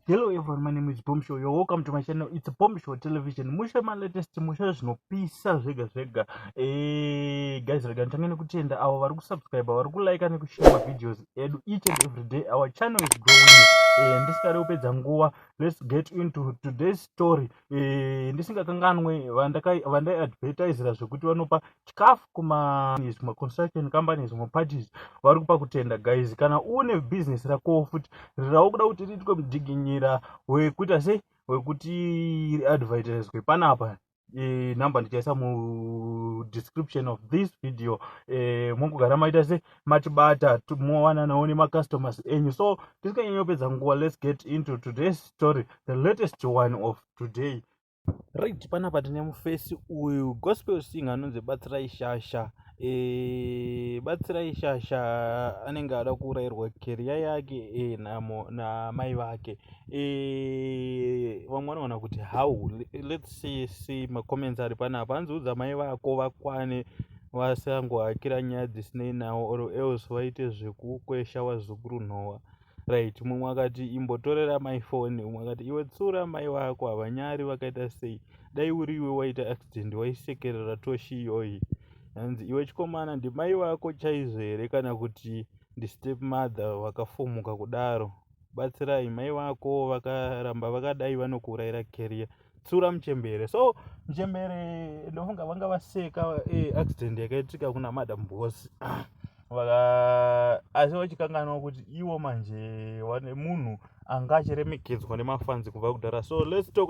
Hello everyone, my name is Bombshell. You're welcome to my channel. It's Bombshell Television. Mushe my latest mushe zvinopisa zvega zvega. Eh, guys, rega ntange nekutenda avo vari kusubscribe, vari kulike nekushare ma videos edu each and every day. Our channel is growing. Eh, ndisingade kupedza nguva. Let's get into today's story. Eh, ndisingakanganwe vandai advertisera zvekuti vanopa chikafu kuma zvimwe construction company zvimwe parties vari kupa kutenda guys kana une business rakowo futi rirawo kuda kuti riitwe mudiginyira wekuita sei wekuti riadvertiswe panapa e, number ndichaisa mudescription of this video e, mongogara maita se matibata mowananawo nemacustomers enyu so tisikanyanyopedza nguva let's get into today's story the latest one of today Right panapa tine mufesi uyu gospel sing anonzi batsirai shasha e, batsirai shasha anenge ada kuurayirwa keriya yake e, namo namai vake e, vamwe vanoona kuti how let's see, see macomments ari panapa anzi udza mai vako vakwane vasangohakira nyaya dzisinei nawo or else vaite zvekukwesha vazukuru nhowa right mumwe akati imbotorera mai foni umwe akati iwe tsura mai vako havanyari vakaita sei dai uri iwe waita accident waisekerera toshi iyoyi hanzi iwe chikomana ndimai vako chaizvo here kana kuti ndistep mother vakafumuka kudaro batsirai mai vako vakaramba vakadai vanokuurayira carrier tsura muchembere so muchembere ndofunga vanga vaseka eh, accident yakaitika kuna madam boss vaka asi vachikanganwa kuti iwo manje wane munhu anga achiremekedzwa nemafanzi kubva kudhara so let's talk